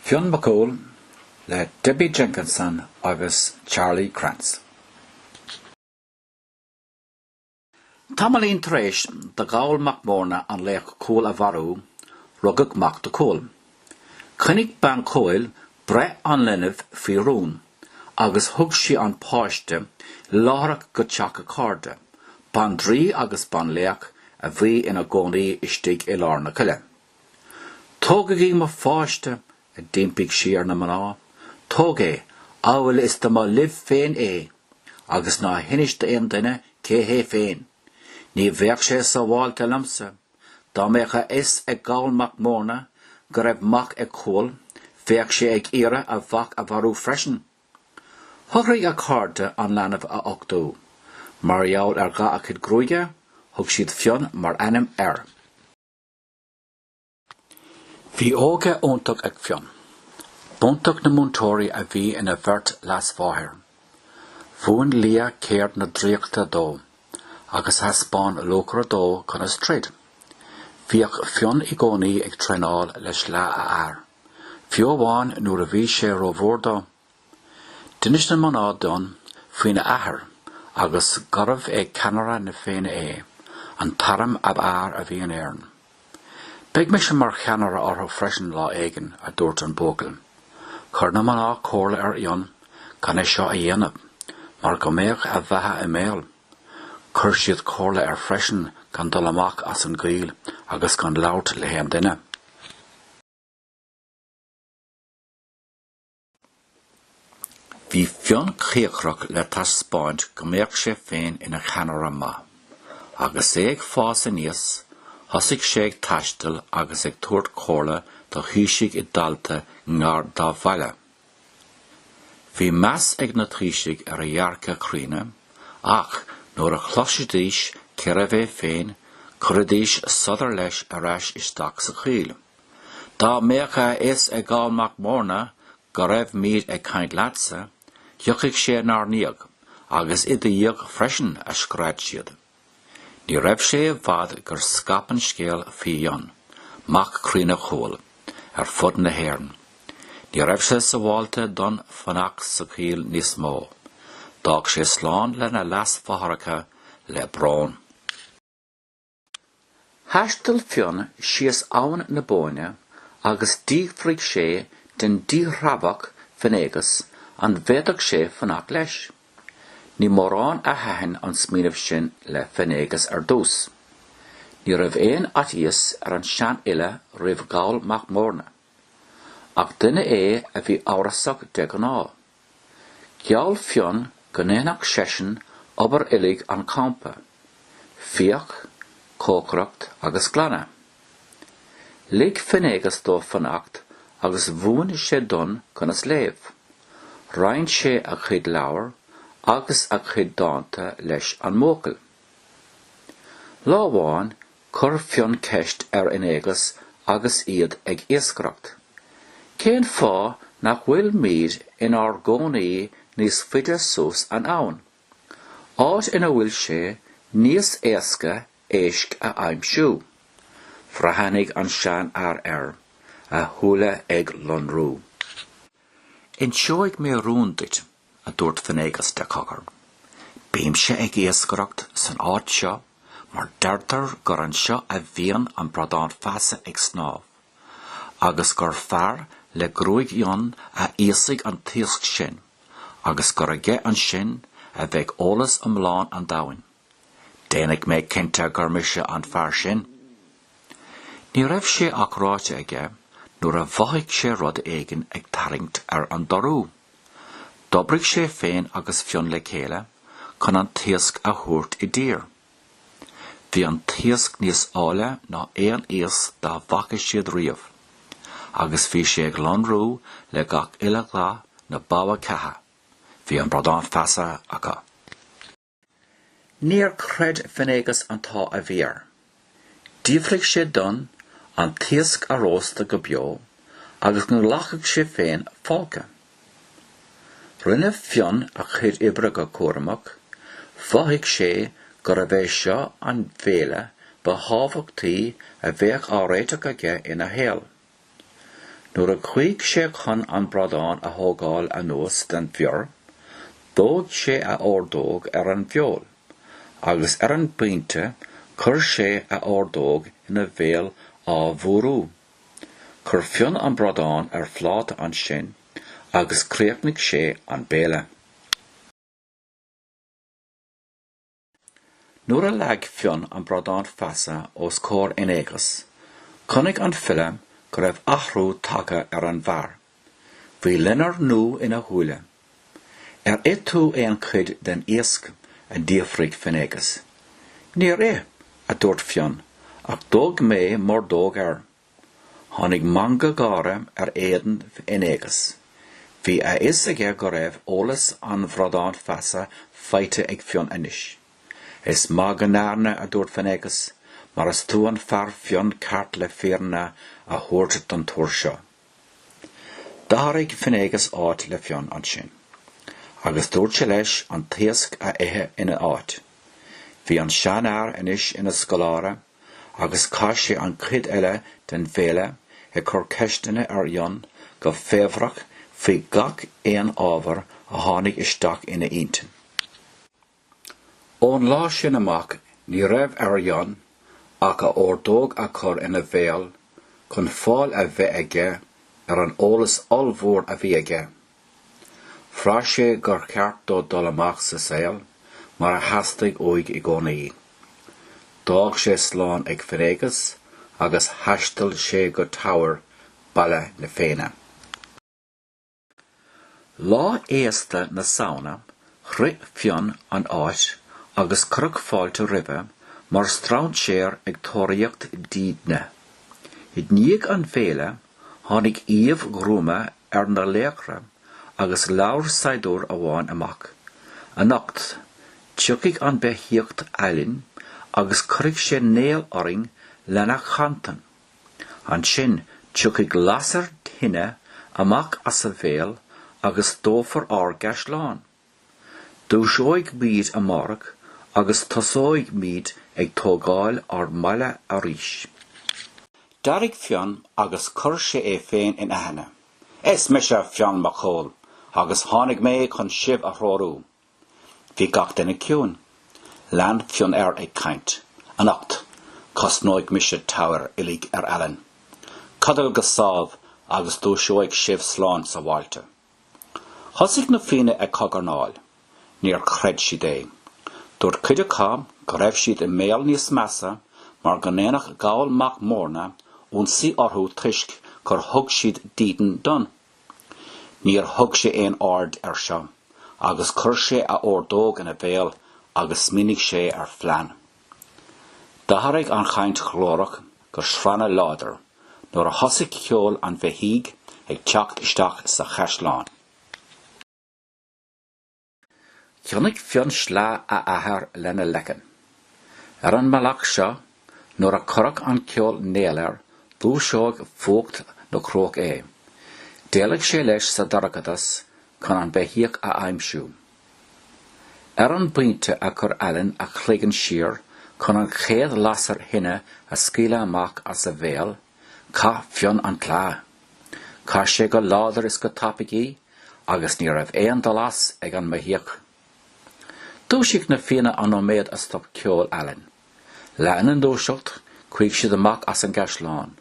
Fionn Mac Cumhaill le Debbie Jenkinson agus Charlie Krantz. Tamaillín tar éis do Gholl Mac Mórna an laoch Cumhall a mharú, rugadh mac do Chumhall. Choinnigh bean Chumhaill breith an linbh faoi rún agus thug sí an páiste láithreach go teach a cairde, bandraoi agus banlaoch a bhí ina gcónaí istigh i lár na coille. Tógaigí mo pháiste, a d'impigh sí ar na mná, tóg é, amhail is dá mba libh féin é, agus ná hinis d'aon duine cé hé féin. Ní bheadh sé sábháilte liomsa, dá mbeadh a fhios ag Goll Mac Mórna go raibh mac ag Cumhall, bheadh sé ag iarraidh a mhac a mharú freisin. Shocraigh a cairde an leanbh a uchtú. Mar gheall ar dhath a chuid gruaige, thug siad Fionn mar ainm air. Bhí óige iontach ag Fionn. B'iontach na múinteoirí a bhí ina bheirt leasmháthair. Mhúin Liath ceird na draíochta dó, agus thaispeáin Luachra dó conas troid. Bhíodh Fionn i gcónaí ag traenáil le sleá a athar, fiú amháin nuair a bhí sé rómhór dó. D'inis na mná d'Fhionn faoina athair agus gurbh é ceannaire na Féinne é, an t-arm ab fhearr a bhí in Éirinn. Beidh mise mar cheannaire orthu freisin lá éigin, a dúirt an buachaill. Chuir na mná comhairle ar Fhionn gan é seo a dhéanamh, mar go mbeadh a bheatha i mbaol. Chuir siad comhairle air freisin gan dul amach as an gcoill agus gan labhairt le haon duine. Bhí Fionn cíocrach le taispeáint go mbeadh sé féin ina cheannaire maith. Agus é ag fás aníos, thosaigh sé ag taisteal agus ag tabhairt comhairle do thaoisigh i dtailte i ngar dá bhaile. Bhí meas ag na taoisigh ar a dhearcadh críonna, ach nuair a chloisidís cérbh é féin, chuiridís sa tsiúl leis ar ais isteach sa choill. Dá mbeadh a fhios ag Goll Mac Mórna go raibh muid ag caint leatsa, thiocfadh sé inár ndiaidh, agus i do dhiaidh freisin, a scread siad. Ní raibh sé i bhfad gur scaip an scéal faoi Fhionn, mac críonna Chumhaill, ar fud na hÉireann. Ní raibh sé sábháilte d'Fhionn fanacht sa choill níos mó. D'fhág sé slán lena leasmháithreacha le brón. Thaistil Fionn síos abhainn na Bóinne agus d'fhiafraigh sé den díthreabhach Finnéagas an bhféadfadh sé fanacht leis. Ní mórán a thaitin an smaoineamh sin le Finnéagas ar dtús. Ní raibh aon fhaitíos ar an seanfhile roimh Gholl mac Morna. Ach duine é a bhí amhrasach de ghnáth. Gheall Fionn go ndéanfadh seisean obair uilig an champa, fiach, cócaireacht agus glanadh. Lig Finnéagas dó fanacht agus mhúin sé d'Fhionn conas léamh. Roinn sé a chuid leabhar agus a chuid dánta leis an mbuachaill. Lá amháin Chuir Fionn ceist ar Fhinnéagas agus iad ag iascaireacht, Cén fáth nach bhfuilmíd inár gcónaí níos faide suas an abhainn, áit ina bhfuil sé níos éasca éisc a aimsiú? Bhreathnaigh an seanfhear air, a shúile ag lonrú. Inseoidh mé rún duit. a dúirt Finnéagas de chogar. Bímse ag iascaireacht san áit seo mar deirtear gur anseo a bhíonn an Bradán Feasa ag snámh, agus gur fear le gruaig fhionn a íosfaidh an t-iasc sin agus gur aige ansin a bheidh eolas iomlán an domhain. Déanfaidh mé cinnte gur mise an fear sin. Ní raibh sé ach ráite aige nuair a mhothaigh sé rud éigin ag tarraingt ar an dorú. D'oibrigh sé féin agus Fionn le chéile chun an t-iasc a thabhairt i dtír. Bhí an t-iasc níos áille ná aon iasc dá bhfaca siad riamh, agus bhí sé ag lonrú le gach uile dhath na bogha ceatha, bhí an bradán feasa acu. Níor chreid Finnéagas an t-ádh a bhí air. D'fhiafraigh sé d'Fhionn an t-iasc a róstadh go beo agus go nglacfadh sé féin folcadh. Rinne Fionn a chuid oibre go cúramach, mhothaigh sé gurbh é seo an bhéile ba thábhachtaí a bheadh á réiteach aige ina shaol. Nuair a chuaigh sé chun an bradán a thógáil anuas den bhior dhóigh sé a ordóg ar an bhfeoil agus ar an bpointe chuir sé a ordóg ina bhéal á fuarú. Chuir Fionn an bradán ar phláta ansin agus chríochnaigh sé an béile. Nuair a leag Fionn an bradán feasa os comhair Fhinnéagas, chonaic an file go raibh athrú tagtha ar an bhfear. Bhí loinnir nua ina shúile. Ar ith tú aon chuid den iasc? a d'fhiafraigh Finnéagas. Níor ith, a dúirt Fionn, ach dhóigh mé m'ordóg air. Tháinig meangadh gáire ar éadan Fhinnéagas. Bhí a fhios aige go raibh eolas an bhradáin feasa faighte ag Fionn anois. Is maith go ndearna, a dúirt Finnéagas, mar is tú an fear Fionn ceart le fírinne a thabhairt don tuar seo. D'athraigh Finnéagas áit le Fionn ansin agus dúirt sé leis an t-iasc a ithe ina áit. Bhí an seanfhear anois ina scoláire agus chaith sé an chuid eile den bhéile ag cur ceisteanna ar Fhionn go faobhrach faoi gach aon ábhar a tháinig isteach ina intinn. Ón lá sin amach ní raibh ar Fhionn ach a ordóg a chur ina bhéal chun fáil a bheith aige ar an eolas ollmhór a bhí aige. Bhraith sé gur cheart dó dul amach sa saol mar a theastaigh uaidh i gcónaí. D'fhág sé slán ag Finnéagas agus thaistil sé go Teamhair, baile na Féinne. Lá fhéasta na Samhna shroich Fionn an áit agus cuireadh fáilte roimhe mar strainséar ag tóraíocht dídine. I ndiaidh an bhéile tháinig aoibh ghruama ar na laochra agus labhair saighdiúir amháin amach, Anocht, tiocfaidh an beithíoch Aillen agus cuirfidh sé néal orainn lena chantain. Ansin tiocfaidh lasair thine amach as a bhéal agus dófar ár gcaisleán. Dúiseoidh muid amárach agus tosóidh muid ag tógáil ár mbaile arís. D'éirigh Fionn agus chuir sé é féin in aithne. Is mise Fionn Mac Cumhaill agus tháinig mé chun sibh a threorú. Bhí gach duine ciúin. Lean Fionn air ag caint. Anocht, cosnóidh mise Teamhair uilig ar Aillen. Codlaígí go sámh agus dúiseoidh sibh slán sábháilte. Thosaigh na Fianna ag cogarnáil. Níor chreid siad é. Dúirt cuid acu go raibh siad i mbaol níos measa mar go ndéanfadh Goll mac Morna ionsaí orthu toisc gur thug siad dídean d'Fhionn. Níor thug sé aon aird air seo agus chuir sé a ordóg ina bhéal agus smaoinigh sé ar phlean. D'athraigh an chaint ghlórach go srannadh láidir nuair a thosaigh ceol an bheithígh ag teacht isteach sa chaisleán. Choinnigh Fionn sleá a athar lena leiceann. Ar an mbealach seo, nuair a chuirfeadh an ceol néal air, dhúiseodh fuacht na cruach é. D'éalaigh sé leis sa dorchadas chun an beithíoch a aimsiú. Ar an bpointe a chuir Allen a chloigeann siar chun an chéad lasair thine a scaoileadh amach as a bhéal, chaith Fionn an tsleá. Chaith sé go láidir is go tapaidh í agus ní raibh aon dul as ag an mbeithíoch. Dhúisigh na Fianna an nóiméad a stop ceol Allen. Lena ndúiseacht, chuaigh siad amach as an gcaisleán.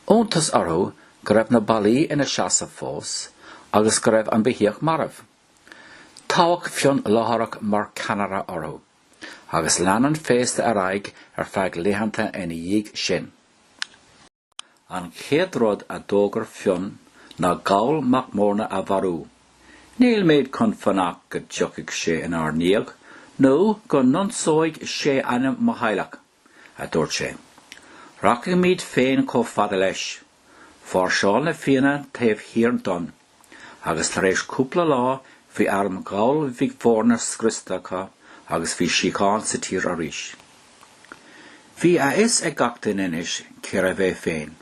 Iontas orthu go raibh na ballaí ina seasamh fós agus go raibh an beithíoch marbh. Toghadh Fionn láithreach mar cheannaire orthu, agus lean an féasta ar aghaidh ar feadh laethanta ina dhiaidh sin. An chéad rud a d'fhógair Fionn ná Goll Mac Mórna a mharú. Nílimid chun fanacht go dtiocfaidh sé inár ndiaidh, nó go n-ionsóidh sé ainm mo theaghlaigh! a dúirt sé. Rachaimid féin chomh fada leis. Mháirseáil na Fianna taobh thiar d'Fhionn, agus tar éis cúpla lá bhí arm Ghoill Mhic Mhórna scriosta acu agus bhí síocháin sa tír arís. Bhí a fhios ag gach duine anois cérbh é féin,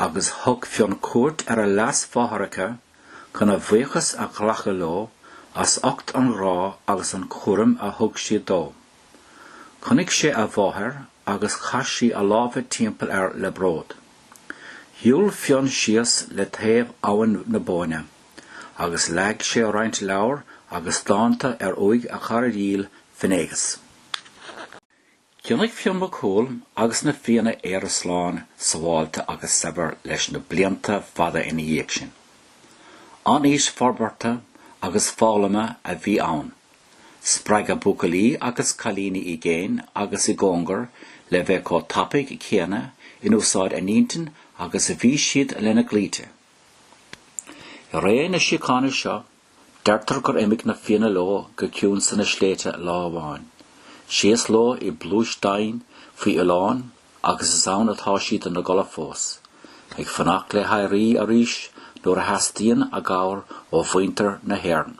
agus thug Fionn cuairt ar a leasmháthaireacha chun a bhuíochas a ghlacadh leo as ucht an ghrá agus an chúraim a thug siad dó. Chonaic sé a mháthair agus chaith sí a lámha timpeall air le bród. Shiúil Fionn síos le taobh Abhainn na Bóinne agus leag sé roinnt leabhar agus dánta ar uaigh a chara dhil, Finnéagas. Choinnigh Fionn Mac Cumhaill agus na Fianna Éire slán sabháilte agus saibhir leis na blianta fada ina dhiaidh sin. An aois forbartha agus foghlama a bhí ann Spreagadh buachaillí agus cailíní i gcéin agus i gcóngar le bheith chomh tapaidh céanna in úsáid a n-intinn agus a bhí siad lena gclaimhte. I ré na síochána seo, deirtear gur imigh na Fianna leo go ciúin sna sléibhte lá amháin. Síos leo i bpluais domhain faoin oileán agus is ann atá siad ina gcodladh fós, ag fanacht le héirí arís nuair a theastaíonn a gcabhair ó mhuintir na hÉireann.